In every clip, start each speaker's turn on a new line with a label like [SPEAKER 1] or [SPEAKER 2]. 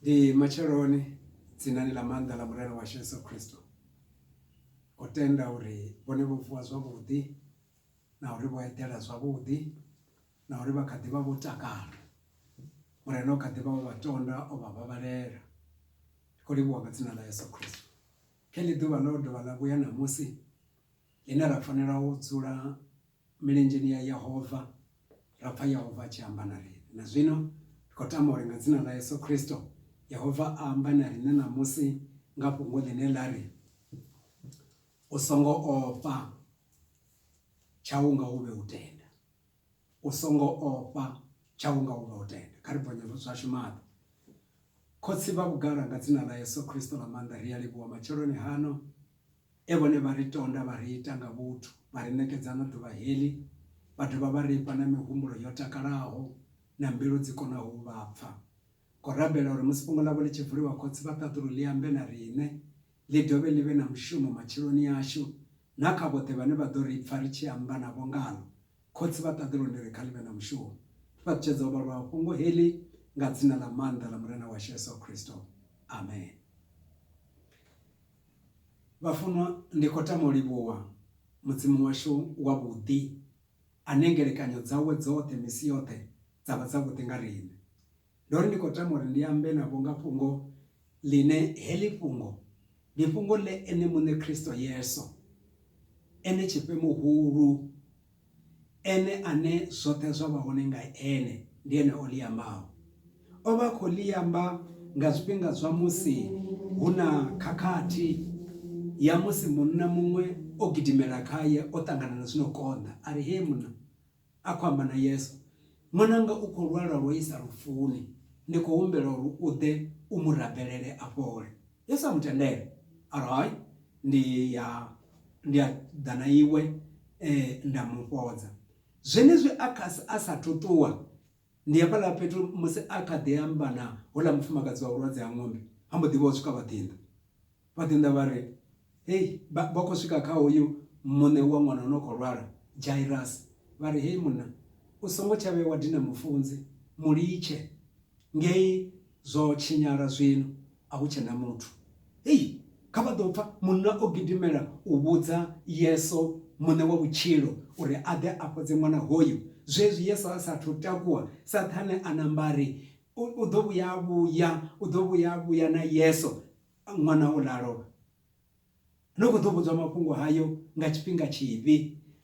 [SPEAKER 1] Ndi matsheloni dzinani ḽa maanḓa ḽa Murena washu Yesu Kristo. O tenda uri vhone vho vuwa zwavhuḓi na uri vho eḓela zwavhuḓi na uri vha kha ḓi vha vho takala. Murena o kha ḓi vha o vha tonda o vha vhavhalela. Ndi khou livhuwa nga dzina ḽa Yesu Kristo. Kha heḽi ḓuvha ḽo dovha ḽa vhuya ṋamusi ḽine ra fanela u dzula milenzheni ya Yehova, ra pfa Yehova a tshi amba na riṋe. Na zwino, ri khou tama uri nga dzina ḽa Yesu Kristo, Yehova a ambe na riṋe ṋamusi nga fhungo ḽine ḽa ri, U songo ofha, tshau nga u vhe u tenda. U songo ofha, tshau nga u vhe u tenda. Kha ri bvonye zwashu maṱo. Khotsi vha vhugala, nga dzina ḽa Yesu Kristo ḽa maanḓa, ri a livhuwa matsheloni hano. E vhone vha ri tonda vha ri ita nga vhuthu, vha ri ṋekedza na ḓuvha heḽi, vha dovha vha ri fha na mihumbulo yo takalaho na mbilu dzi konaho u vha pfa. Khou rabela uri musi fhungo ḽavho ḽi tshi vuliwa Khotsi vha ṱaḓulu ḽi ambe na riṋe, ḽi dovhe ḽi vhe na mushumo matshiloni ashu na kha vhoṱhe vhane vha ḓo ri pfa ri tshi amba navho ngaḽo. Khotsi vha ṱaḓulu ndi ri kha ḽi vhe na mushumo. Ndi fhaṱutshedza ho vhalwaho fhungo heḽi nga dzina ḽa maanḓa ḽa Murena washu Yesu Khristo. Amen. Vhafunwa, ndi khou tama u livhuwa Mudzimu washu wavhuḓi, ane ngelekanyo dzawe dzoṱhe misi yoṱhe dza vha dzavhuḓi nga riṋe. Ndo ri ndi khou tama uri ndi ambe navho nga fhungo ḽine heḽi fhungo ndi fhungo ḽe Ene Muṋe Kristo Yesu, ene Tshifhe Muhulu, Ene ane zwoṱhe zwa vha hone nga Ene, ndi Ene o ḽi ambaho. O vha a khou ḽi amba nga zwifhinga zwa musi hu na khakhathi ya musi munna muṅwe o gidimela khae o ṱangana na zwi no konḓa, a ri, Hee munna! a khou amba na Yesu. Ṅwananga u khou lwala lwo isa lufuni, ndi khou humbela uri u ḓe u mu rabelele a fhole. Yesu a mu tendela, a ri, Hai, ndi ya, ndi a ḓa na iwe nda mu fhodza. Zwenezwi a kha, a sa athu ṱuwa, ndi hafhaḽa fhethu musi a kha ḓi amba na houḽa mufumakadzi wa vhulwadze ha ṅombe, ha mbo ḓi vha ho swika vhaḓinḓa. Vha ḓi ṋa vha ri, Hei! Vha khou swika kha hoyu muṋe wa ṅwana o no khou lwala, Jairasi, vha ri, Hei munna, u songo tsha vhuya wa dina Mufunzi, mu litshe ngei, zwo tshinyala zwino, a hu tshe na muthu. Hei! Kha vha ḓo pfa! Munna o gidimela u vhudza Yesu, Muṋe wa vhutshilo, uri a ḓe a fhodze ṅwana hoyu. Zwezwi Yesu a sa athu takuwa, Saṱhane a namba a ri, U ḓo vhuya a vhuya, u ḓo vhuya a vhuya na Yesu. Ṅwana uḽa a lovha. Ndo kho ḓo vhudzwa mafhungo hayo nga tshifhinga tshivhi,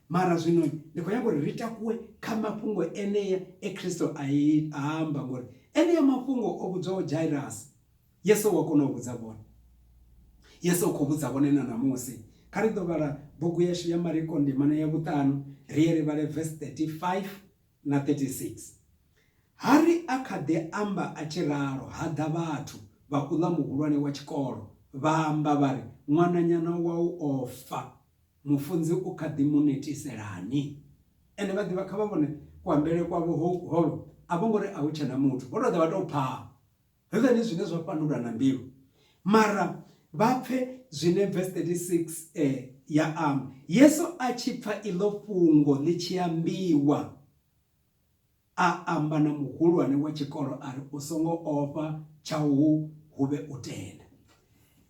[SPEAKER 1] mara zwino ndi khou nyanga uri ri takuwe kha mafhungo enea e Kristo a amba, ngori enea mafhungo o vhudzwaho Jairasi, Yesu wa kona u vhudza vhone. Yesu u khou vhudza vhone na ṋamusi. Kha ri ḓo vhala bugu yashu ya Mariko ndimana ya vhuṱanu, ri ye ri vhale vesi 35. na 36. Harry a kha ḓi amba a tshi ralo ha ḓa vhathu, vhakuḽa muhulwane wa tshikolo vha amba vha ri, Ṅwananyana wau o fa, mufunzi u kha ḓi mu netiselani? Ende vha ḓivha, kha vha vhone kuambele kwavho holu, a vho ngo ri a hu tshe na muthu, vho tou ḓa vha tou phaa. Ḓivheni zwine zwa fhandula na mbilu, mara vha pfe zwine vesi 36 e ya amba. Yesu a tshi pfa iḽo fhungo ḽi tshi ambiwa, a amba na muhulwane wa tshikolo a ri, U songo ofha, tshau hu vhe u tenda.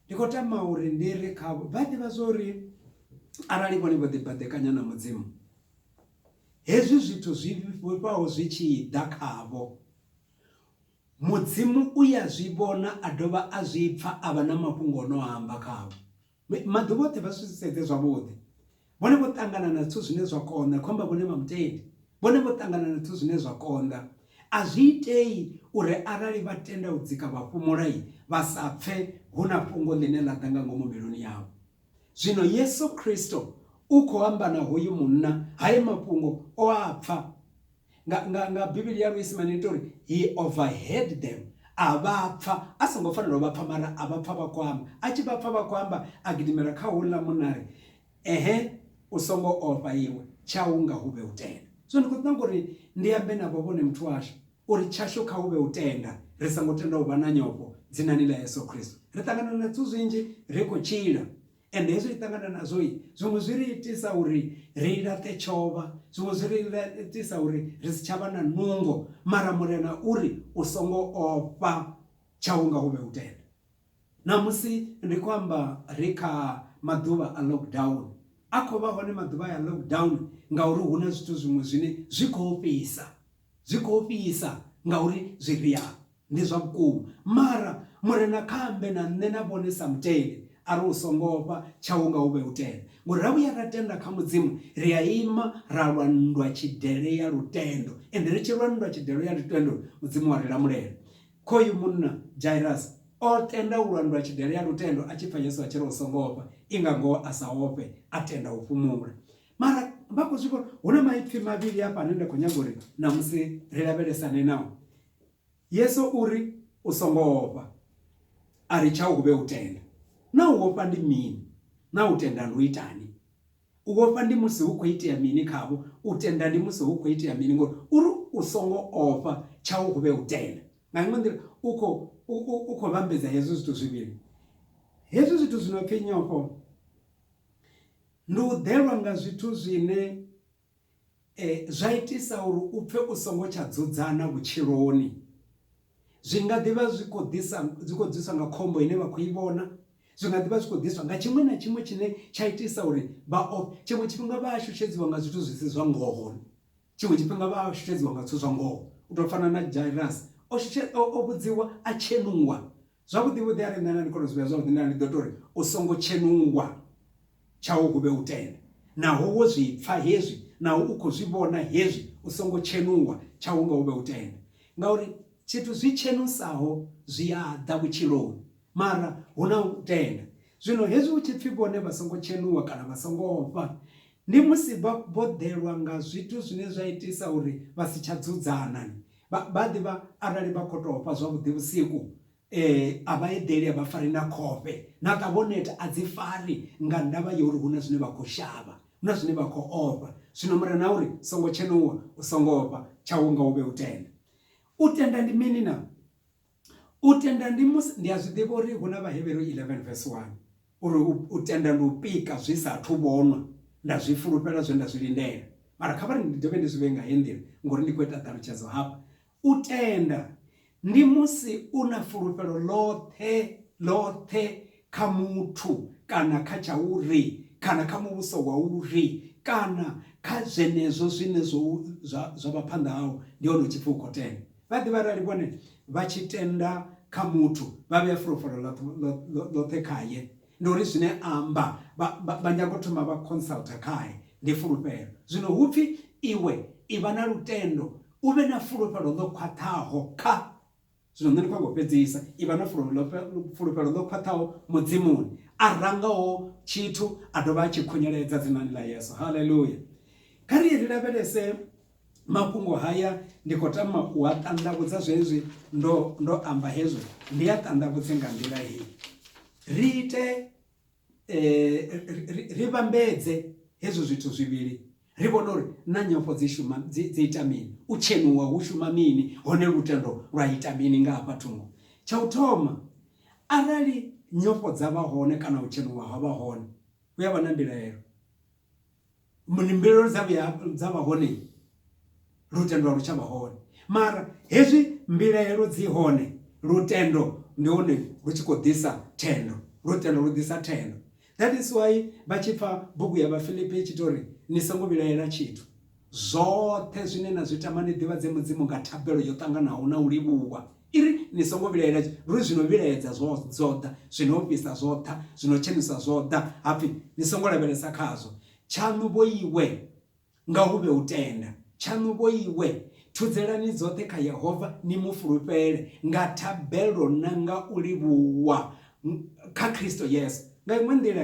[SPEAKER 1] Ndi khou tama uri ndi ri khavho, vha ḓivha zwa uri arali vhone vho ḓibaḓekanya na Mudzimu, hezwi zwithu zwi vhifhaho zwi tshi ḓa khavho, Mudzimu u ya zwi vhona a dovha a zwi pfa a vha na mafhungo o no a amba khavho. Maḓuvha oṱhe vha zwi sedze zwavhuḓi. Vhone vho ṱangana na zwithu zwine zwa konḓa, khou amba vhone vha Mutendi. Vhone vho ṱangana na zwithu zwine zwa konḓa. A zwi itei uri arali vha tenda u dzika vha fhumula, vha sa pfe hu na fhungo ḽine ḽa ḓa nga ngomu mbiluni yavho. Zwino Yesu Kristo u khou amba na hoyu munna, haya mafhungo o a pfa. nga, nga, nga bivhili ya luisimane ita uri he overheard them a vha pfa a songo fanela u vha pfa mara a vha pfa vha khou amba a tshi vha pfa vha khou amba a gidimela kha houḽa munari ehe u songo ofha iwe tshau nga hu vhe u tenda so ndi khou ṱanga uri ndi ambe navho vhone muthu washu uri tshashu kha hu vhe u tenda ri songo tenda u vha na nyofho dzinani ḽa yesu khristo ri ṱangana na zwithu zwinzhi ri khou tshila And hezwi ri ṱangana nazwo, zwiṅwe zwi ri itisa uri ri laṱe tshovha, zwiṅwe zwi ri itisa uri ri si tsha vha na nungo. Mara Murena u ri, U songo ofha, tshau nga hu vhe u tenda. Ṋamusi ndi khou amba ri kha maḓuvha a lockdown. A khou vha hone maḓuvha aya a lockdown ngauri hu na zwithu zwiṅwe zwine zwi khou ofhisa. Zwi khou ofhisa ngauri zwifhiha ndi zwa vhukuma. Mara Murena kha ambe na nṋe na vhone sa mutendi a ri u songo ofha, tshau nga u vhe u tenda. Ngori ra vhuya ra tenda kha Mudzimu, ri a ima ra lwa nndwa-tshidele ya lutendo. Ende ri tshi lwa nndwa-tshidelo ya lutendo, Mudzimu wa ri lamulela. Khoyu munna Jairasi o tenda u lwa nndwa-tshidele ya lutendo a tshi pfa Yesu a tshi ri u songo ofha, i nga ngoho a sa ofhe, a tenda u fhumula. mara vha khou zwi vhona hu na maipfhi mavhili afha ane nda khou nyaga uri namusi ri lavhelesane nao yesu uri u songo ofha a ri tshau hu vhe u tenda na u ofha ndi mini na u tenda ndi u itani u ofha ndi musi hu khou itea mini khavho u tenda ndi musi hu khou itea mini ngori uri u songo ofha tshau hu vhe u tenda nga iṅwe nḓila u khou u khou vhambedza hezwi zwithu zwivhili hezwi zwithu zwi no pfhi nyofho Ndi u ḓelwa nga zwithu zwine zwa itisa uri u pfe u songo tsha dzudzana vhutshiloni. Zwi nga ḓi vha zwi khou ḓisa, zwi khou ḓiswa nga khombo ine vha khou i vhona, zwi nga ḓi vha zwi khou ḓiswa nga tshiṅwe na tshiṅwe tshine tsha itisa uri vha ofhe. Tshiṅwe tshifhinga vha a shushedziwa nga zwithu zwi si zwa ngoho, tshiṅwe tshifhinga vha a shushedziwa nga zwithu zwa ngoho. U tou fana na Jairasi, o shushe, o vhudziwa a tshenuwa Zwavhuḓi vhuḓi a ri nṋe na ni kona zwi vhea zwavhuḓi nda ndi ḓo tori u songo tshenungwa tshau hu vhe u tende naho wo zwi pfa hezwi naho u kho zwi vhona hezwi u songo tshenungwa tshau nga hu vhe u tende ngauri tshithu zwi tshenusaho zwi a ḓa vhutshiloni mara hu na u tenda zwino hezwi hu tshi pfi vhone vha songo tshenuwa kana vha songo ofha ndi musi vha vho ḓelwa nga zwithu zwine zwa itisa uri vha si tsha dzudzana Vha a ḓivha arali vha khou tou fha zwavhuḓi vhusiku, a vha eḓeli, a vha fari na khofhe. Na ṱavha o neta, a dzi fari nga ndavha ya uri hu na zwine vha khou shavha, hu na zwine vha khou ofha. Zwino Murena a uri, Songo tshenuwa, u songo ofha, tshau nga u vhe u tenda. U tenda ndi mini naa? U tenda ndi musi, ndi a zwi ḓivha uri hu na Vhahevheru 11 vesi 1, uri u tenda ndi u pika zwi sa athu vhonwa, nda zwi fulufhela zwe nda zwi lindela. Mara kha vha ri ndi dovhe ndi zwi vhee nga heyi nḓila, ngauri ndi khou ita ṱhalutshedzo hafha. U tenda ndi musi u na fulufhelo ḽoṱhe, ḽoṱhe kha muthu, kana kha tsha uri, kana kha muvhuso wa uri, kana kha zwenezwo zwine zwo, zwa, zwa vha phanḓa hau, ndi hone u tshi pfi u khou tenda. Vha ḓivha arali vhone vha tshi tenda kha muthu vha vhea fulufhelo ḽoṱhe khaye ndi uri zwine amba vha nyago thoma vha consulta khae ndi fulufhelo zwino hu pfhi iwe i vha na lutendo u vhe na fulufhelo ḽo khwaṱhaho kha zwino nṋe ndi khou ngo fhedzisa i vha na fulufhelo ḽo khwaṱhaho mudzimuni a rangaho tshithu a dovha a tshi khunyeledza dzinani ḽa yesu haleluya kha ri ri lavhelese Mafhungo haya ndi khou tama u a ṱanḓavhudza zwezwi ndo, ndo amba hezwo, ndi a ṱanḓavhudze nga nḓila heyi. Ri ite, eh, ri, ri vhambedze hezwo zwithu zwivhili ri vhone uri na nyofho dzi shuma dzi, dzi ita mini u tshenuwa hu shuma mini hone lutendo lwa ita mini nga hafha thungo tsha u thoma arali nyofho dza vha hone kana u tshenuwa ha vha hone hu ya vha na mbilaelo muni mbilelo dza vhuya dza vha hone lutendo a lu tsha vha hone mara hezwi mbilaelo dzi hone lutendo ndi hone lu tshi khou ḓisa thendo lutendo lu ḓisa thendo that is why vha tshi pfa bugu ya vhafilipi i tshi tori ni songo vhilaela tshithu Zwoṱhe zwine na zwi tama ni ḓivhadze Mudzimu nga thabelo yo ṱanganaho na u livhuwa. I ri, Ni songo vhilaela luri zwi no vhilaedza zwo zwo ḓa, zwi no ofhisa zwo ḓa, zwi no tshenusa zwo ḓa, ha pfi, Ni songo lavhelesa khazwo. Tshaṋu vho iwe, nga hu vhe u tenda. Tshaṋu vho iwe, thudzelani dzoṱhe kha Yehova ni mu fulufhele nga thabelo na nga u livhuwa kha Kristo Yesu. Nga iṅwe nḓila,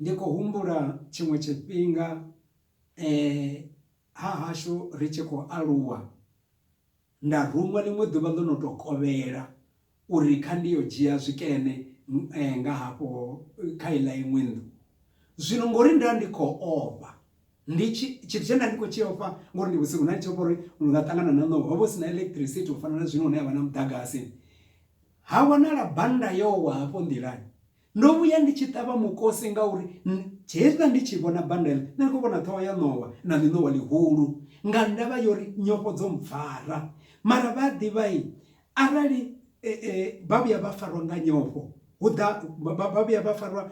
[SPEAKER 1] Ndi khou humbula tshiṅwe tshifhinga hahashu ri tshi khou aluwa, nda ruṅwa ḽiṅwe ḓuvha ḽo no tou kovhela uri kha ndi yo dzhia zwikene nga hafho kha iḽa iṅwe nnḓu. Zwino ngori nda ndi khou ofha, ndi tshi, tshithu tshe nda ndi khou tshi ofha ngori ndi vhusiku, nda ndi tshi ofha uri ndi nga ṱangana na ṋowa. Ho vha hu si na electricity u fana na zwino hune ha vha na muḓagasi. Ha wanala bannda yo wa hafho nḓilani. Ndo vhuya ndi tshi ṱavha mukosi ngauri hezwiḽa ndi tshi vhona banda iḽi, nṋe ndi khou vhona ṱhoho ya ṋowa na ḽiṋowa ḽihulu nga ndavha ya uri nyofho dzo mpfara. Mara vha a ḓivha arali vha vhuya vha farwa nga nyofho hu ḓa vha vhuya vha farwa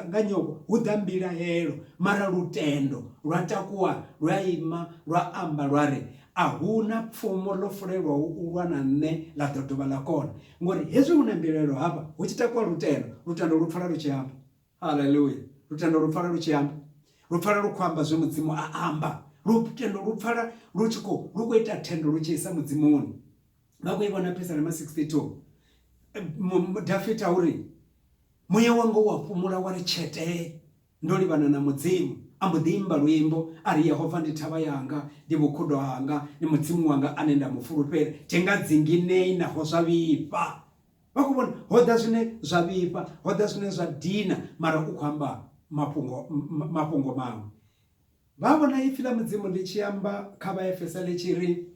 [SPEAKER 1] nga nyofho hu ḓa mbilahelo mara lutendo lwa takuwa lwa ima lwa amba lwa ri ahuna pfumo ḽo fulelwaho u lwa na nṋe ḽa ḓo dovha ḽa kona. Ngori hezwi hu na mbilaelo hafha, hu tshi takuwa lutendo, lutendo lu pfala lu tshi amba. Haleluya! Lutendo lu pfala lu tshi amba. Lu pfala lu khou amba zwe Mudzimu a amba. Lutendo lu pfala lu tshi khou, lu khou ita thendo lu tshi isa Mudzimuni. Vha khou i vhona Phisalema 62. Dafita u ri, Muya wanga u a fhumula wa ri tshetee, Ndo livhana na Mudzimu. A mbo ḓi imba luimbo a ri, Yehova ndi thavha yanga, ndi vhukhudo hanga, ndi Mudzimu wanga ane nda mu fulufhela, thi nga dzinginei naho zwa vhifha. Vha khou vhona? Ho ḓa zwine zwa vhifha, ho ḓa zwine zwa dina, mara u khou amba mafhungo, mafhungo maṅwe. Vha vhona ipfi ḽa Mudzimu ḽi tshi amba kha Vhaefesa ḽi tshi ri,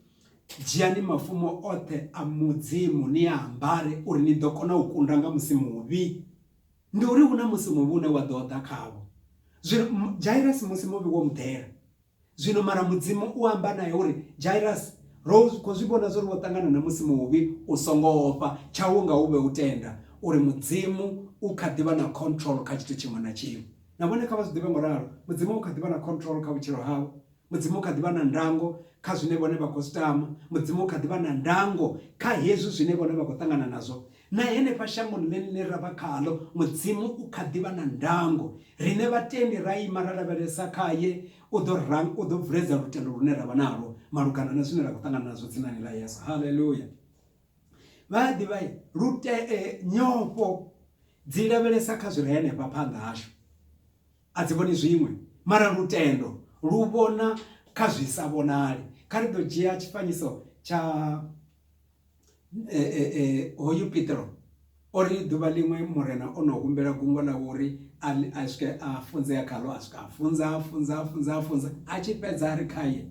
[SPEAKER 1] Dzhiani mafumo oṱhe a Mudzimu ni a ambare uri ni ḓo kona u kunda nga musi muvhi. ndi uri hu na musi muvhi une wa ḓo ḓa khavho. Zwino Jairasi musi muvhi wo muḓela. Zwino mara Mudzimu u amba nae uri, Jairasi, ro khou zwi vhona zwo ri wo ṱangana na musi muvhi, u songo ofha, tshau nga u vhe u tenda uri Mudzimu u kha ḓi vha na control kha tshithu tshiṅwe na tshiṅwe. Na vhone kha vha zwi ḓivhe ngo ralo, Mudzimu u kha ḓi vha na control kha vhutshilo havho. Mudzimu u kha ḓi vha na ndango kha zwine vhone vha khou zwi tama. Mudzimu u kha ḓi vha na ndango kha hezwi zwine vhone vha khou ṱangana nazwo. Na henefha shangoni ḽine ra vha khaḽo, Mudzimu u kha ḓi vha na ndango. Riṋe vhatendi ra ima ra lavhelesa khae, u ḓo ra, u ḓo vuledza lutendo lune ra vha nalwo malugana na zwine ra khou ṱangana nazwo dzinani ḽa Yesu. Haleluya! Vha a ḓivha lute, nyofho dzi lavhelesa kha zwi re henefha phanḓa hashu. A dzi vhoni zwiṅwe, mara lutendo lu vhona kha zwi sa vhonali. Kha ri ḓo dzhia tshifanyiso tsha hoyu Petro. O ri ḓuvha ḽiṅwe Murena o no humbela gungwa ḽawe uri a swike a funzea khaḽo, a swika a funza, a funza, a funza, a funza. A tshi fhedza a ri khaye,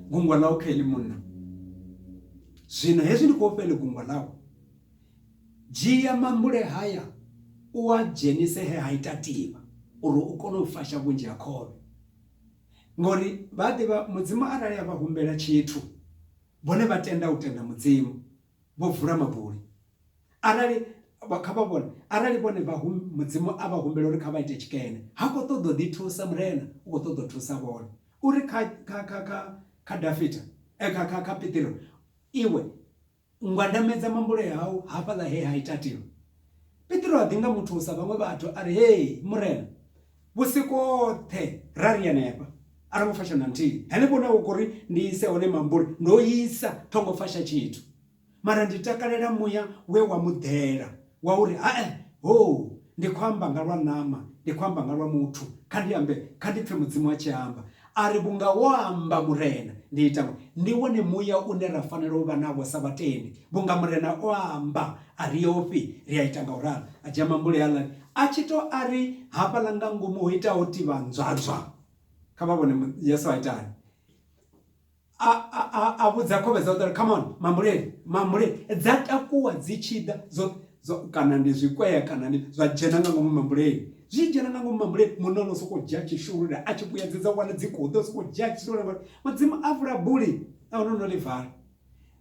[SPEAKER 1] gungwa ḽau kha iḽi munna. Zwino hezwi ndi khou fha iḽi gungwa ḽau. Dzhia mambule haya u a dzhenise he ha ita tivha uri u kone u fasha vhunzhi ha khovhe. Ngori vha a ḓivha Mudzimu arali a vha humbela tshithu, vhone vha tenda u tenda Mudzimu, vho vula mabuli. Arali, kha vha vhone, arali vhone vha hum, Mudzimu a vha humbela uri kha vha ite tshikene, ha khou ṱoḓa u ḓithusa, Murena u khou ṱoḓa u thusa vhone. U ri kha, kha, kha, kha, kha Dafita, eh, kha, kha, kha Piṱiro, Iwe, U nga namedza mambule au hafhaḽa he ha ita tiro? Petro a ḓi nga muthu sa vhaṅwe vhathu a ri, Hee, Murena, vhusiku hoṱhe ra ri henefha, a ro ngo fasha na nthihi. Henefho hune wa khou ri ndi ise hone mambule, ndo isa, tho ngo fasha tshithu. Mara ndi takalela muya we wa mu ḓela. Wa u ri, Hae! Hoo! Ndi khou amba nga lwa ṋama, ndi khou amba nga lwa muthu. Kha ndi ambe, kha ndi pfe Mudzimu a tshi amba. A ri, Vhunga wo amba, Murena, ndi ita ngo. Ndi wone muya une ra fanela u vha nawo sa vhatendi. Vhunga Murena o amba, a ri ofhi, ri a ita nga u ralo. A dzhia mambule haaḽani, a tshi tou a ri hafhaḽa nga ngomu ho ita ho tivha nzwadzwa. Kha vha vhone Yesu a ita hani. A, a, a, a vhudza khovhe dzawe uri come on mambuleni mambuleni dza takuwa dzi tshi ḓa dzo zwa kana ndi zwikwea kana ndi zwa dzhena nga ngomu mambuleni zwi dzhena nga ngomu mambuleni munna ono sokou dzhia tshishulule a tshi vhuyedzedza wana dzi khou ḓa sokou dzhia tshishulule ngori mudzimu a vula buli a ono no ḽi vala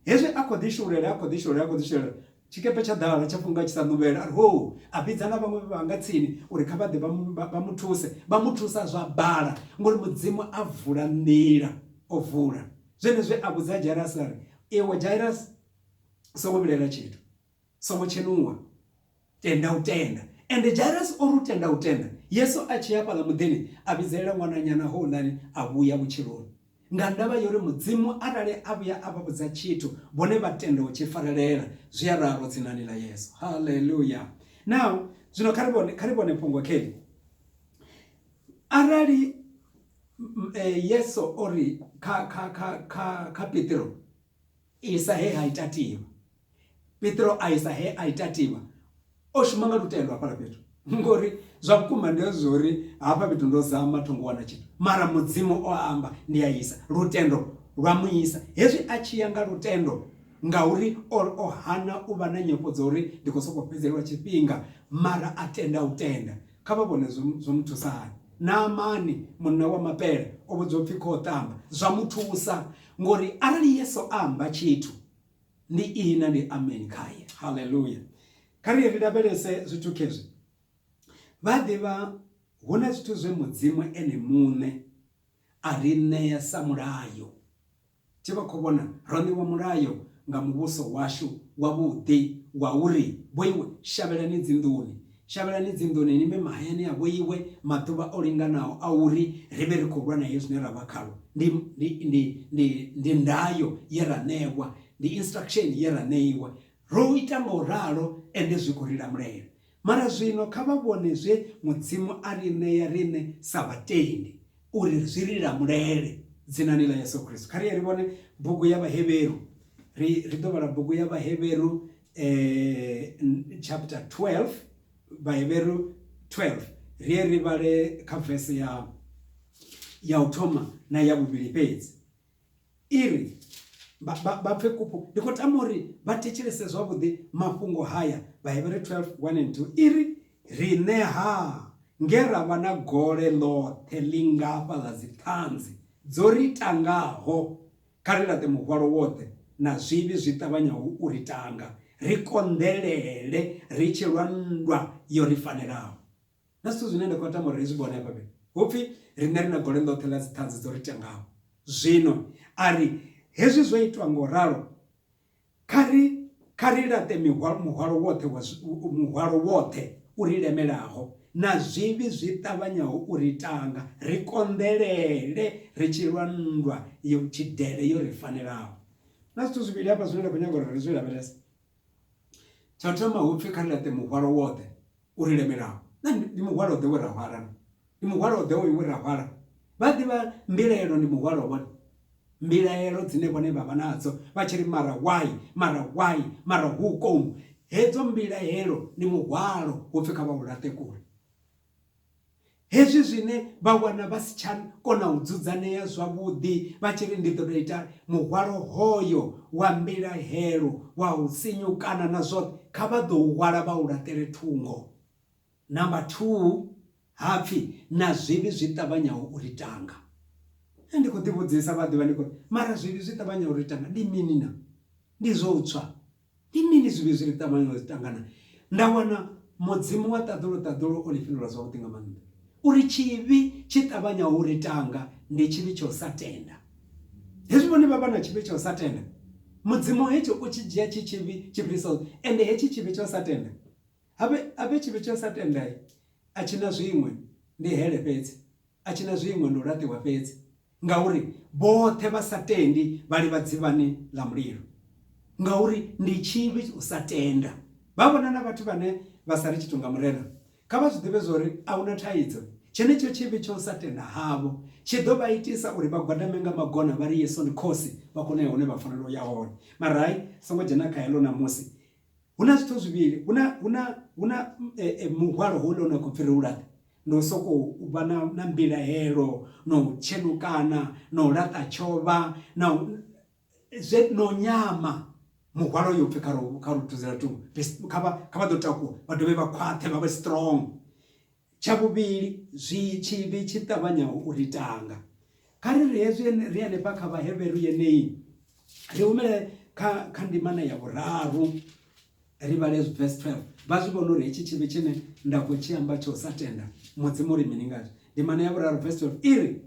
[SPEAKER 1] hezwi a khou ḓi shululela a khou ḓi shululela a khou ḓi shululela Tshikepe tsha ḓala tsha funga tshi sa ṋuvhela, a ri hou! A vhidza na vhaṅwe vhe vha vha nga tsini uri kha vha ḓe vha mu, vha mu thuse. Vha mu thusa zwa bala, ngori Mudzimu a vula nḓila. O vula. Zwenezwi a vhudza Jairasi a ri, Iwe Jairasi, u songo vhilaela tshithu. Songo tshenuwa. Tenda u tenda. Ende Jairasi o ri u tenda u tenda, Yesu a tshi ya hafhaḽa muḓini, a vhidzelela ṅwananyana houḽani a vhuya vhutshiloni. Nga ndavha ya uri Mudzimu arali a vhuya a vha vhudza tshithu, vhone vha tenda u tshi farelela. Zwi a ralo dzinani ḽa Yesu. Hallelujah! Now, zwino kha ri vhone, kha ri vhone fhungo kheli. Arali eh, Yesu o ri kha, kha, kha, kha, kha Petro, Isa he ha ita tiwa. Petro a isa he a ita tiwa. O shuma nga lutendo hafhala fhethu. Ngori zwa vhukuma ndi zwo uri hafha fhethu ndo zama thongo wana tshithu. Mara Mudzimu o amba ndi a isa. Lutendo lwa mu isa. Hezwi a tshi ya nga lutendo ngauri o o hana u vha na nyofho dza uri ndi khou sokou fhedzelwa tshifhinga mara a tenda u tenda. Kha vha vhone zwo zwo mu thusa hani. Naamani munna wa mapele o vhudzwa upfi kho ṱamba zwa mu thusa. Ngori arali Yesu a amba tshithu ndi ihina ndi amen khaye. Hallelujah. Kha ri ri lavhelese zwithu khezwi. Vha ḓivha hu na zwithu zwe Mudzimu ene muṋe a ri ṋea sa mulayo. Tshi vha khou vhona ro ṋewa mulayo nga muvhuso washu wavhuḓi wa uri vhoiwe shavhelani dzinḓuni Shavhelani dzinḓuni ni bve mahayani a vhoiwe maḓuvha o linganaho a uri ri vhe ri khou lwa na hezwi zwine ra vha khalwo. Ndi, ndi, ndi, ndi, ndi ndayo ye ra ṋewa, ndi instruction ye ra ṋeiwa. Ro ita nga u ralo, ende zwi khou ri lamulela. Mara zwino kha vha vhone zwe Mudzimu a ri ṋea riṋe sa vhatendi, uri zwi ri lamulele, Dzinani ḽa Yesu Kristo. Kha ri ye ri vhone bugu ya Vhahevheru. Ri, ri ḓo vhala bugu ya Vhahevheru, eh, chapter 12 vhaheberu 12 ri ye ri vhale kha vese ya ya u thoma na ya vhuvhili fhedzi i ri vha pfe kupfu ndi khou tama uri vha thetshelese zwavhuḓi mafhungo haya vhaheberu 12 1 and 2 i ri riṋe ha nge ra vha na gole ḽoṱhe ḽi ngafha ḽa dziṱhanzi dzo ri tangaho Kha ri laṱe muhwalo woṱhe na zwivhi zwi ṱavhanyaho u ri tanga, ri konḓelele ri tshi lwa nndwa yo ri fanelaho. Na zwithu zwine nda khou tama uri ri zwi vhone hafha fhethu, hu pfi riṋe ri na gole ḽoṱhe ḽa dziṱhanzi dzo ri tangaho. Zwino a ri, Hezwi zwo itwa nga u ralo, Kha ri kha ri laṱe mihwalo muhwalo woṱhe wa muhwalo woṱhe u ri lemelaho na zwivhi zwi ṱavhanyaho u ri tanga, ri konḓelele ri tshi lwa nndwa ya vhutshidele yo ri fanelaho. Na zwithu zwivhili hafha zwine nda khou nyaga uri ri zwi lavhelese. Tsha u thoma hu pfi kha ri laṱe muhwalo woṱhe u ri lemelaho. Na nṋe ndi muhwalo-ḓe we ra hwala, na. Ndi muhwalo-ḓe oyu we ra hwala. Vha ḓivha mbilaelo ndi muhwalo vhone, mbilaelo dzine vhone vha vha nadzo, vha tshi ri, Mara why? Mara why? Mara hukomu? Hedzo mbilaelo ndi muhwalo, hu pfi kha vha u laṱe kule. Hezwi zwine vha wana vha si tsha kona u dzudzanea zwavhuḓi vha tshi ri ndi ḓo tou itani, muhwalo hoyo wa mbilahelo, wa u sinyukana na zwoṱhe, kha vha ḓo u hwala vha u laṱele thungo. Number thuu, Ha pfi, Na zwivhi zwi ṱavhanyaho u ri tanga. Nṋe ndi khou ḓivhudzisa vhaḓivha ndi khou ri, Mara zwivhi zwi ṱavhanyaho u ri tanga ndi mini naa? Ndi zwo u tswa, Ndi mini zwivhi zwi re ṱavhanywa zwi ṱangana? Nda wana Mudzimu wa ṱaḓulu-ṱaḓulu o ḽi fhindula zwavhuḓi nga maanḓa. U ri, Tshivhi tshi ṱavhanyaho u ri tanga ndi tshivhi tsha u sa tenda. Hezwi vhone vha vha na tshivhi tsha u sa tenda, Mudzimu hetsho u tshi dzhia tshi tshivhi tshi fhirisaho, ende hetshi tshivhi tsha u sa tenda, a vhe, a vhe tshivhi tsha u sa tenda, a tshi na zwiṅwe, ndi hele fhedzi. a tshi na zwiṅwe ndi u laṱiwa fhedzi, ngauri vhoṱhe vha sa tendi vha livha dzivhani ḽa mulilo. Ngauri ndi tshivhi u sa tenda. Vha vhona na vhathu vhane vha sa ri tshithu nga Murena, kha vha zwi ḓivhe zwa uri a hu na thaidzo. Tshenetsho tshivhi tsha u sa tenda havho tshi ḓo vha itisa uri vha gwadame nga magona vha ri Yesu ndi Khosi, vha kone u ya hune vha fanela u ya hone. Mara hai songo dzhena kha heḽo ṋamusi, hu na zwithu zwivhili hu na hu na hu na muhwalo houḽa une wa khou pfhi ri u laṱe ndi u sokou u vha na na mbilahelo na u tshenukana na u laṱa tshovha na zwe no nyama muhwalo yo pfhi kha ro kha ro thuzela thungo kha vha kha vha ḓo takuwa vha dovhe vha khwaṱhe vha vhe strong Tsha vhuvhili, zwi tshivhi tshi ṱavhanyaho u ri tanga. Kha ri ri hezwi ri henefha kha Vhaheveru yeneyi, ri humele kha kha ndimana ya vhuraru ri vhale verse 12 vha zwi vhona uri hetshi tshivhi tshine nda khou tshi amba tsho sa tenda mudzimu ri mini ngazwo ndimana ya vhuraru verse 12 i ri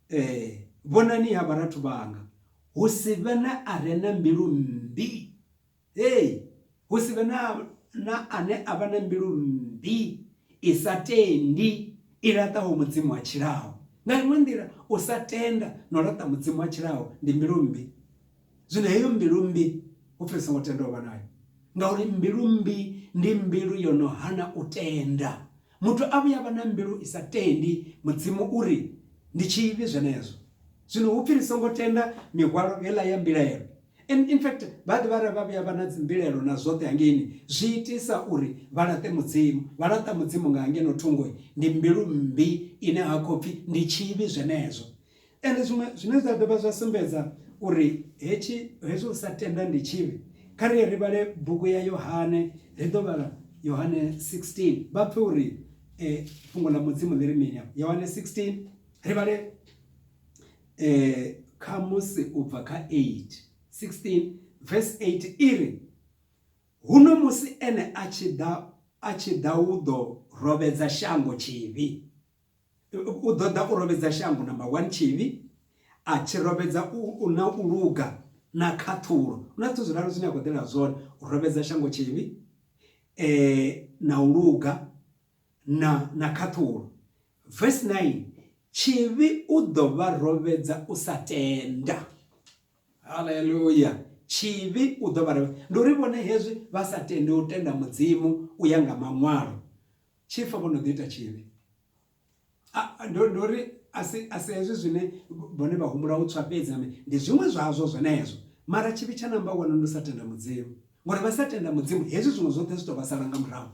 [SPEAKER 1] eh, vhonani ha vharathu vhanga hu si vhe na a re na mbilu mmbi Hei, hu si vhe na, na ane a vha na mbilu mmbi i sa tendi, i laṱaho Mudzimu a tshilaho. Nga iṅwe nḓila, u sa tenda na u laṱa Mudzimu a tshilaho ndi mbilu mmbi. Zwino heyo mbilu mmbi hu pfi ri songo tenda u vha nayo, ngauri mbilu mmbi ndi mbilu yo no hana u tenda. Muthu a vhuya a vha na mbilu i sa tendi, Mudzimu u ri, Ndi tshivhi zwenezwo. Zwino hu pfi ri songo tenda mihwalo heiḽa ya mbilaelo. In, in fact, vha ḓivha arali vha vhuya vha na dzimbilaelo na zwoṱhe hangeini, zwi itisa uri vha laṱe Mudzimu. Vha laṱa Mudzimu nga ngeno thungo. Ndi mbilu mmbi ine ha khou pfi ndi tshivhi zwenezwo. Ende zwiṅwe zwine zwa dovha zwa sumbedza uri hetshi hezwi u sa tenda ndi tshivhi, kha ri ye ri vhale bugu ya Yohane, ri ḓo vhala Yohane 16, vha pfe uri fhungo ḽa Mudzimu ḽi ri mini afho. Yohane 16, ri vhale khamusi u bva kha 8, 16 verse 8 i ri, Huno musi Ene a tshi ḓa, a tshi ḓa u ḓo robedza shango tshivhi. U ḓo ḓa u robedza shango, number one, tshivhi, a tshi robedza u na u luga na khaṱhulo. Hu na zwithu zwiraru zwine a khou ḓela zwone, u robedza shango tshivhi, na u luga na na khaṱhulo. Verse 9, tshivhi u ḓo vha robedza u sa tenda. Haleluya! Tshivhi u ḓo vha robedza. Ndi uri vhone hezwi vha sa tendi u tenda Mudzimu u ya nga Maṅwalo, Tshi fa vho no ḓi ita tshivhi. A, ndo, ndo ri a si, a si hezwi zwine vhone vha humbula u tswa fhedzi, ame, ndi zwiṅwe zwazwo zwenezwo. Mara tshivhi tsha namba wano ndi u sa tenda Mudzimu. Ngori vha sa tenda Mudzimu, hezwi zwiṅwe zwoṱhe zwi tou vha sala nga murahu.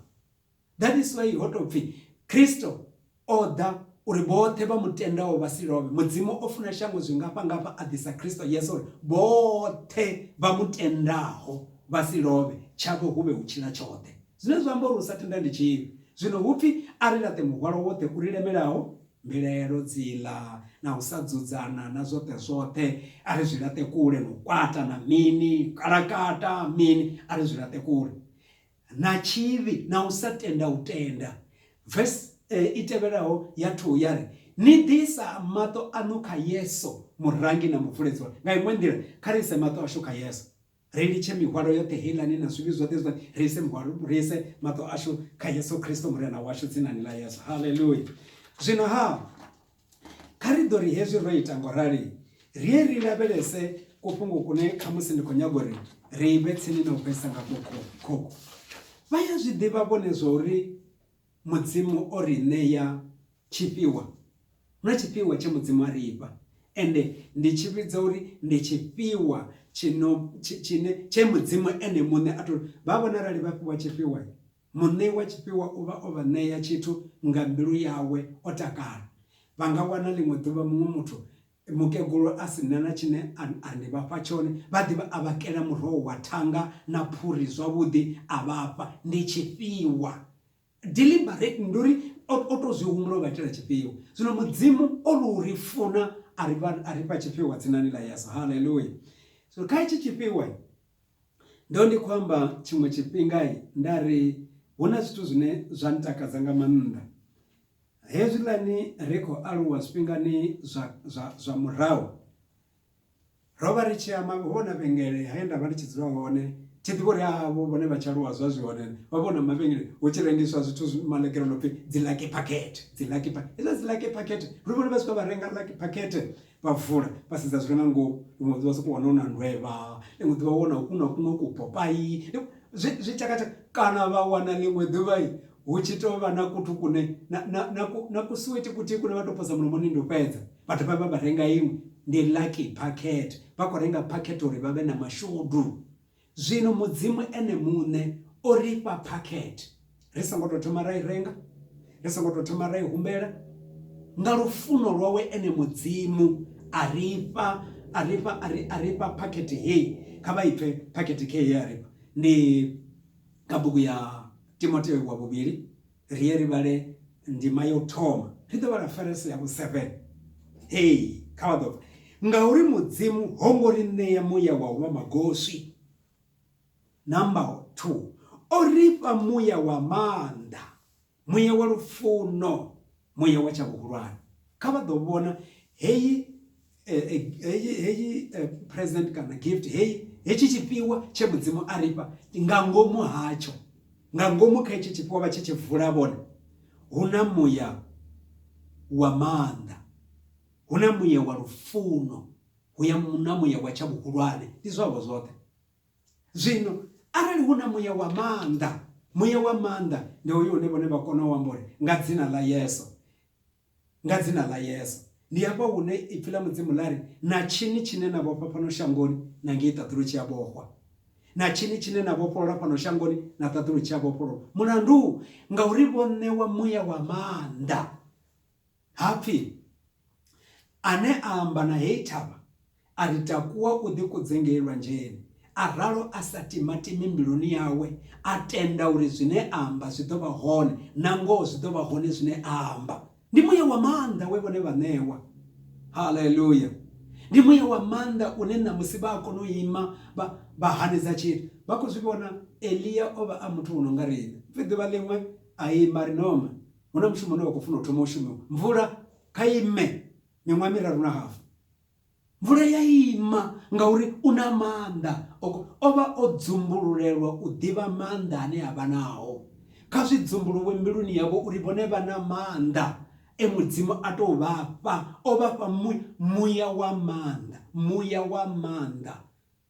[SPEAKER 1] That is why ho tou pfi, Kristo o ḓa uri vhoṱhe vha mu tendaho vha si lovhe. Mudzimu o funa shango zwingafha-ngafha a ḓisa Kristo Yesu uri vhoṱhe vha mu tendaho vha si lovhe, tshavho hu vhe u tshila tshoṱhe. zwine zwa amba uri u sa tenda ndi tshivhi. Zwino hu pfi, A ri laṱe muhwalo woṱhe u ri lemelaho, mbilaelo, dziḽa, na u sa dzudzana, na zwoṱhe zwoṱhe, a ri zwi laṱe kule, na u kwata, na mini, u kalakata, mini, a ri zwi laṱe kule, na tshivhi, na u sa tenda u tenda. Vese i tevhelaho ya thuu ya ri, Ni ḓi isa maṱo aṋu kha Yesu, Murangi na Muvuledzi waṋu. Nga iṅwe nḓila, kha ri ise maṱo ashu kha Yesu. Ri litshe mihwalo yoṱhe heiḽani na zwivhi zwoṱhe zwa ri ise muhwalo ri ise maṱo ashu kha Yesu Kristo murena washu dzinani ḽa Yesu haleluya zwino ha kha ri ḓo ri hezwi ro ita ngo rali ri ye ri lavhelese kufhungo kune kha musi ndi khou nyaga uri ri vhe tsini na u fhedzisa nga khokho vha ya zwi ḓivha vhone zwa uri Mudzimu o ri ṋea tshifhiwa, hu na tshifhiwa tshe Mudzimu a ri fha, ende ndi tshi vhidza uri ndi tshifhiwa tshino tshine tshe Mudzimu ene muṋe a tou vha vhona. Arali vha fhiwa tshifhiwa, muṋei wa tshifhiwa u vha o vha ṋea tshithu nga mbilu yawe o takala. Vha nga wana ḽiṅwe ḓuvha muṅwe muthu Mukegulu a si na na tshine a, a ni vha fha tshone. Vha ḓi vha a vha kela muroho wa thanga na phuri zwavhuḓi a vha fha. Ndi tshifhiwa. Deliberate, ndi uri o, o tou zwi humbula u vha itela tshifhiwa. Zwino Mudzimu o lu ri funa a ri, a ri fha tshifhiwa dzinani ḽa Yesu. Haleluya! Zwino kha hetshi tshifhiwa, ndo ndi khou amba tshiṅwe tshifhinga nda ri hu na zwithu zwine zwa ntakadza nga maanḓa. Hezwiḽani ri khou aluwa zwifhingani zwa, zwa, zwa murahu, ro vha ri tshi amba nga vhona vhengele he nda vha ndi tshi dzula hone, tshi ḓivha uri avho vhone vha tshi aluwa zwa zwi hone, vha vhona mavhengele hu tshi rengiswa zwithu zwi maḽegere no pfi dzi lucky packet, dzi lucky packet, hezwiḽa dzi lucky packet, ri vhone vha tshi khou vha renga lucky packet, Vha vula, vha sedza zwi re nga ngomu. Ḽiṅwe ḓuvha vha sokou wana hu na ndwevha, ḽiṅwe ḓuvha vha wana hu na kuṅwe kupopayi, zwi, zwi tshakatshaka. Kana vha wana ḽiṅwe ḓuvha hu tshi tou vha na kuthu kune, na, na, na, ku, na kusuwiti kuthihi kune vha tou posa mulomoni ndi u fhedza. Vha dovha vha vha renga iṅwe, ndi lucky packet. Vha khou renga packet uri vha vhe na mashudu. Zwino Mudzimu Ene muṋe o ri fha phakhethe, ri songo tou thoma ra i renga, ri songo tou thoma ra i humbela. Nga lufuno lwawe Ene Mudzimu a ri fha, a ri fha, a ri, a ri fha phakhethe hei. Kha vha i pfe phakhethe khei ye a ri fha. Ndi kha bugu ya Timotheo wa Vhuvhili. Ri ye ri vhale ndima ya u thoma. Ri ḓo vhala Phareso ya vhu-7. Hei, kha vha ḓo pfa. Ngauri Mudzimu ho ngo ri ṋea muya wa u vha magoswi, number 2, o ri fha muya wa maanḓa, muya wa lufuno, muya wa tsha vhuhulwane. Kha vha ḓo vhona heyi Eh, eh, heyi heyi eh, present kana gift heyi hetshi tshifhiwa tshe mudzimu a ri fha nga ngomu hatsho nga ngomu kha hetshi tshifhiwa vha tshi tshi vula vhone hu na muya wa maanḓa hu na muya wa lufuno hu ya na muya wa tsha vhuhulwane ndi zwavho zwoṱhe zwino arali hu na muya wa maanḓa muya wa maanḓa ndi hoyo une vhone vha kona u amba uri nga dzina ḽa yeso nga dzina ḽa Yesu. Ndi hafha hune ipfi ḽa Mudzimu ḽa ri, na tshini tshine na vhofha fhano shangoni na ngei ṱaḓulu tshi a vhofhwa, na tshini tshine na vhofholola fhano shangoni na ṱaḓulu tshi a vhofhololwa. Mulandu ngauri vho ṋewa muya wa maanḓa. Hapfi ane a amba na heyi thavha A ri takuwa u ḓikudze ngei lwanzheni, a ralo a sa timatimi mbiluni yawe, a tenda uri zwine a amba zwi ḓo vha hone, nangoho zwi ḓo vha hone zwine a amba. Ndi muya wa maanḓa we vhone vha ṋewa. Haleluya! Ndi muya wa maanḓa une ṋamusi vha a kona u ima vha, vha hanedza tshithu. Vha khou zwi vhona, Elia o vha a muthu wo no nga riṋe. Pfi ḓuvha ḽiṅwe a ima a ri, Norma, hu na mushumo une wa khou funa u thoma u shumiwa. Mvula kha i ime miṅwaha miraru na hafu. Mvula ya ima, ngauri u na maanḓa. Oko, o vha o dzumbululelwa u ḓivha maanḓa ane a vha nao. Kha zwi dzumbuluwe mbiluni yavho uri vhone vha na maanḓa e Mudzimu a tou vha fha. O vha fha mu, muya wa maanḓa, muya wa maanḓa.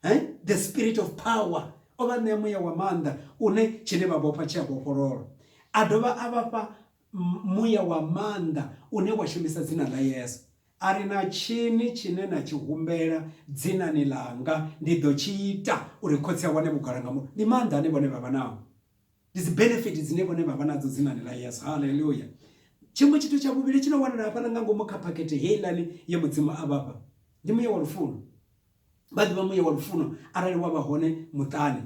[SPEAKER 1] He? The spirit of power. O vha ṋea muya wa maanḓa une tshine vha vhofha tshi a vhofhololwa. A dovha a vha fha muya wa maanḓa une wa shumisa dzina ḽa Yesu, a ri, Na tshini tshine na tshi humbela dzinani ḽanga, ndi ḓo tshi ita uri Khotsi a wane vhugala nga muno. Ndi maanḓa ane vhone vha vha nao, ndi dzi benefit dzine vhone vha vha nadzo dzinani ḽa Yesu. Haleluya! Tshiṅwe tshithu tsha vhuvhili tshi no wanala hafhaḽa nga ngomu kha phakhethe heiḽani ye Mudzimu a vhafha, ndi muya wa lufuno. Vha ḓivha muya wa lufuno arali wa vha hone muṱani,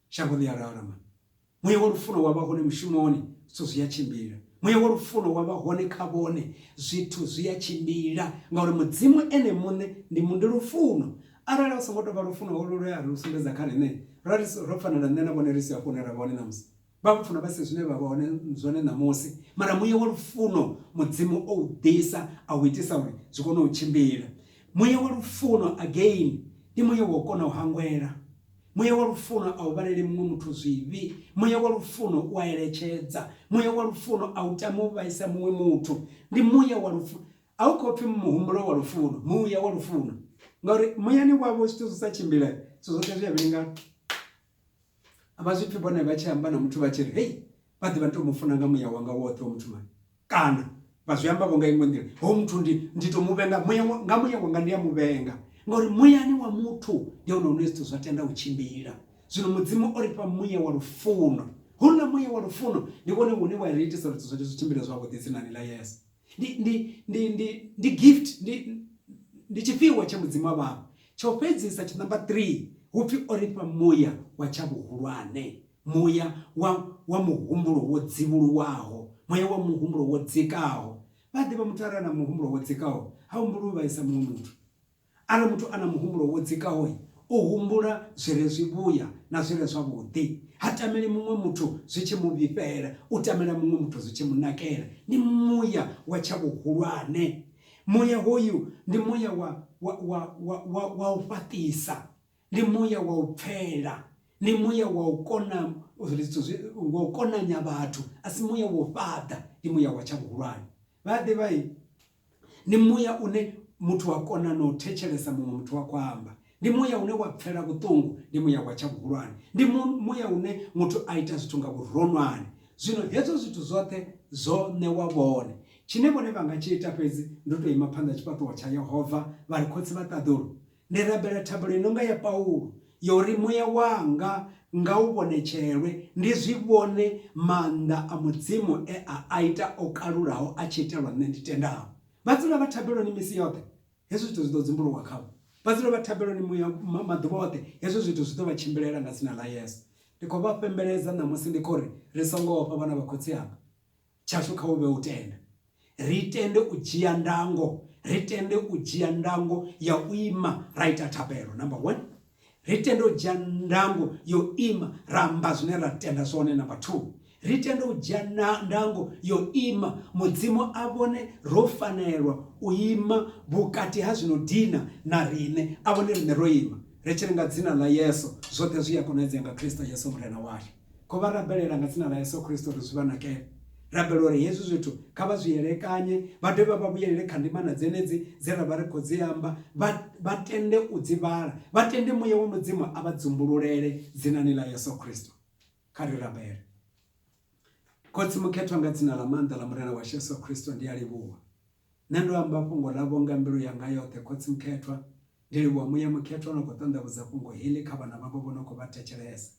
[SPEAKER 1] shango ḽi a lalama. muya wa lufuno wa vha hone mushumoni zwithu zwi a tshimbila muya wa lufuno wa vha hone kha vhone zwithu zwi a tshimbila ngauri mudzimu ene muṋe ndi mundi lufuno arali u songo tou vha lufuno holo lwe a ri u sumbedza kha riṋe ra ri ro fanela nṋe na vhone ri si hafho hune ra vha hone ṋamusi vha vho funa vha si zwine vha vha hone zwone ṋamusi mara muya wa lufuno mudzimu o u ḓisa a u itisa uri zwi kone u tshimbila muya wa lufuno again ndi muya wa u kona u hangwela Muya wa lufuno a u vhaleli muṅwe muthu zwivhi. Muya wa lufuno u a eletshedza. Muya wa lufuno a u tami u vhaisa muṅwe muthu. Ndi muya wa lufuno. A u khou pfi muhumbulo wa lufuno, muya wa lufuno. Ngauri muyani wavho zwithu zwi sa tshimbile, zwithu zwoṱhe zwi a vhilingana. A vha zwi pfi vhone vha tshi amba na muthu vha tshi ri, Hei, vha ḓe vha tou mu funa nga muya wanga woṱhe wa muthumani kana vha zwi amba vho nga iṅwe nḓila ho muthu ndi ndi to mu vhenga muya nga muya wanga ndi a mu vhenga ngauri muyani wa muthu ndi hone hune zwithu zwa tenda u tshimbila zwino mudzimu o ri fha muya wa lufuno houḽa muya wa lufuno ndi vhone hune wa ri itisa uri zwithu zwoṱhe zwi tshimbile zwavhuḓi dzinani ḽa yesu ndi ndi ndi ndi ndi gift ndi ndi tshifhiwa tsha mudzimu wa vhavho tsho fhedzisa tshinamba 3 hupfi o ri fha muya wa tsha vhuhulwane muya wa, wa muhumbulo wo dzivhuluwaho, muya wa muhumbulo wo dzikaho. Vha ḓivha muthu a re a na muhumbulo wo dzikaho ha humbuli u vhaisa muṅwe muthu. Arali muthu a na muhumbulo wo dzikaho, u humbula zwi re zwivhuya na zwi re zwavhuḓi. Ha tameli muṅwe muthu zwi tshi mu vhifhela, u tamela muṅwe muthu zwi tshi mu nakela. Ndi muya wa tsha vhuhulwane. Muya hoyu ndi muya wa, wa, wa, wa, wa, wa u fhaṱisa. Ndi muya wa u pfela, ndi muya wa u kona uri zwithu zwi, wa u konanya vhathu, a si muya wa u fhaḓa, ndi muya wa tsha vhuhulwane. Vha a ḓivha i? Ndi muya une muthu wa kona na u thetshelesa muṅwe muthu a khou amba. Ndi muya une wa pfela vhuṱungu, ndi muya wa tsha vhuhulwane. Ndi mu, muya une muthu a ita zwithu nga vhuronwane. Zwino hezwo zwithu zwoṱhe zwo ṋewa vhone. Tshine vhone vha nga tshi ita fhedzi, ndi u tou ima phanḓa ha tshifhaṱuwo tsha Yehova vha ri, Khotsi vha ṱaḓulu, Ndi rabela thabelo i no nga ya Paulo ya uri muya wanga nga u vhonetshelwe ndi zwi vhone maanḓa a Mudzimu e a a ita o kalulaho a tshi itelwa nṋe ndi tendaho. Vha dzula vha thabeloni misi yoṱhe, hezwi zwithu zwi ḓo dzumbuluwa khavho. Vha dzula vha thabeloni muya maḓuvha oṱhe, hezwi zwithu zwi ḓo vha tshimbilela nga dzina ḽa Yesu. Ndi khou vha fhembeledza ṋamusi ndi khou ri, Ri songo ofha vhana vha khotsi anga. tshashu kha hu vhe u tenda. Ri tende u dzhia ndango, ri tende u dzhia ndango ya u ima ra ita thabelo. Number one, ri tende u dzhia ndango yo ima ra amba zwine ra tenda zwone. Number two, ri tende u dzhia ndango yo ima Mudzimu a vhone ro fanelwa u ima vhukati ha zwino dina na riṋe, a vhone riṋe ro ima ri tshi ri nga dzina ḽa Yesu zwoṱhe zwi a konadzea nga Kristo Yesu Murena washu. Kho vha rabelela nga dzina ḽa Yesu Kristo uri zwi vha nakele. Rabela uri hezwi zwithu kha vha zwi elekanye, vha dovhe vha vhuyelele kha ndimana dzenedzi dze ra vha ri khou dzi amba, vha, vha tende u dzi vhala, vha tende Muya wa Mudzimu a vha dzumbululele dzinani ḽa Yesu Kristo. Kha ri rabele. Khotsi mukhethwa nga dzina ḽa maanḓa ḽa Murena washu Yesu Kristo ndi a livhuwa. Nṋe ndo amba fhungo ḽavho nga mbilu yanga yoṱhe, Khotsi Mukhethwa. Ndi livhuwa Muya Mukhethwa o no khou ṱanḓavhudza fhungo heḽi kha vhana vhavho vho no khou vha thetshelesa.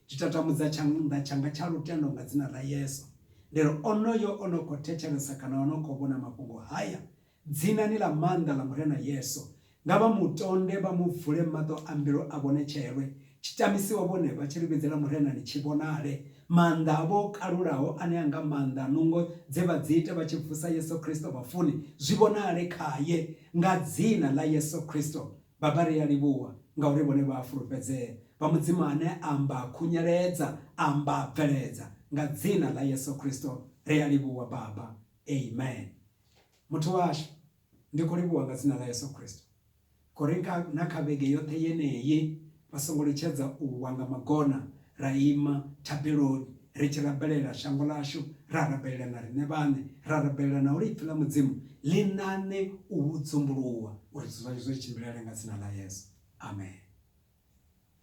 [SPEAKER 1] Ndi tatamudza tshanḓa tshanga tsha lutendo nga Dzina ḽa Yesu, ndi ri, Onoyo o no khou thetshelesa kana o no khou vhona mafhungo haya, Dzinani ḽa maanḓa ḽa Murena Yesu, Nga vha mu tonde vha mu vule maṱo a mbilu a vhone tshelwe, tshi tamisiwa vhone vha tshi luvhidzela Murenani tshi vhonale. Maanḓa avho o kalulaho ane a nga maanḓa a nungo dze vha dzi ita vha tshi vusa Yesu Kristo vhafuni, zwi vhonale khaye. Nga Dzina ḽa Yesu Kristo, Baba, ri a livhuwa ngauri vhone vha a fulufhedzea. Vha Mudzimu ane a amba a khunyeledza, a amba a bveledza. Nga Dzina ḽa Yesu Kristo, ri a livhuwa, Baba. Amen. Muthu washu. Ndi khou livhuwa nga dzina ḽa Yesu Kristo khouri nga na kha vhege yoṱhe yeneyi vha songo litshedza u wa nga magona ra ima thabeloni ri tshi rabelela shango ḽashu, ra rabelela na riṋe vhaṋe, ra rabelela na uri Ipfi ḽa Mudzimu ḽi ṋaṋe u dzumbuluwa uri zwithu zwashu zwi ri tshimbilele nga dzina ḽa Yesu. Amen.